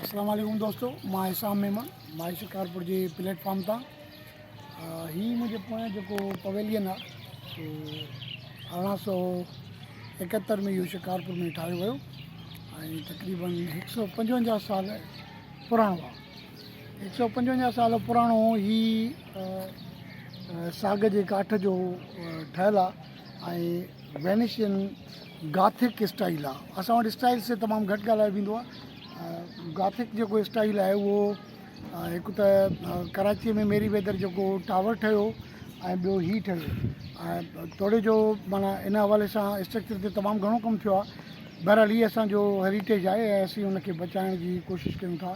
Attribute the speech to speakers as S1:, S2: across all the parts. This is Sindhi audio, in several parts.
S1: اسلام عليڪم دوستو مان حسام ميمڻ مائي شڪارپور جي پليٽ فارم تان هي منهنجي پويان جيڪو پويلين آ سو ارڙهن سو ايڪهتر ۾ اهو شڪارپور ۾ ٺاهيو ويو ۽ تقريبن هڪ سو پنجونجاهه سال پراڻو آ هڪ سو پنجونجاهه سال پراڻو هي ساڳ جي ڪاٺ جو ٺهيل آ وينيشين گاٿڪ اسٽائيل آ اسان وٽ اسٽائيلس تي تمام گهٽ ڳالهايو ويندو آ گاٿڪ جيڪو اسٽائيل آهي اهو هڪ ته ڪراچيء ۾ ميري ويدر جيڪو ٽاور ٺهيو ۽ ٻيو هي ٺهيو ۽ توڙي جو معنيٰ ان حوالي سان اسٽرڪچر تي تمام گهڻو ڪم ٿيو آ بهرحال هي اسانجو هيريٽيج آهي ۽ اسين ان کي بچائڻ جي ڪوشش ڪيون ٿا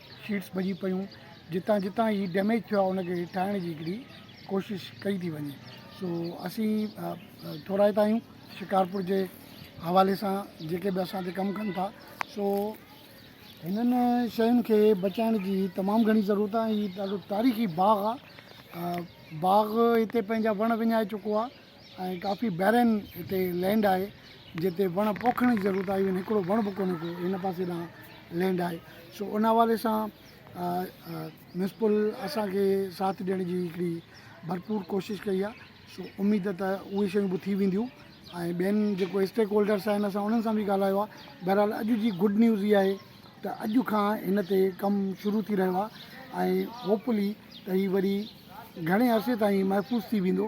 S1: شيٽس ڀڄي پيون جتان جتان هي ڊيميج ٿيو آهي ان کي ٺاهڻ جي هڪڙي ڪوشش ڪئي ٿي وڃي سو اسين ٿورائتا آهيون شڪارپور جي حوالي سان جيڪي به اسان تي ڪم ڪن ٿا سو هنن شين کي بچائڻ جي تمام گهڻي ضرورت آهي هي ڏاڍو تاريخي باغ آهي باغ هتي پنهنجا وڻ وڃائي چڪو آهي ۽ ڪافي بيرن هتي لينڊ آهي جتي وڻ پوکڻ جي ضرورت آهي ايون هڪڙو وڻ به ڪونهي ڪو هن پاسي ڏانهن لينڊ آهي سو ان حوالي سان ميونسپل اسان کي ساٿ ڏيڻ جي هڪڙي ڀرپور ڪوشش ڪئي آهي سو اميد ته اهي شيون به ٿي وينديون ۽ ٻين جيڪو اسٽيڪ هولڊرس آهن اسان انهن سان به ڳالهايو آهي بهرحال اڄ جي گڊ نيوز اها آهي ته اڄ کان هن تي ڪم شروع ٿي رهيو آهي ۽ هوپ لي ته هي وري گهڻي عرصي تائين محفوظ ٿي ويندو.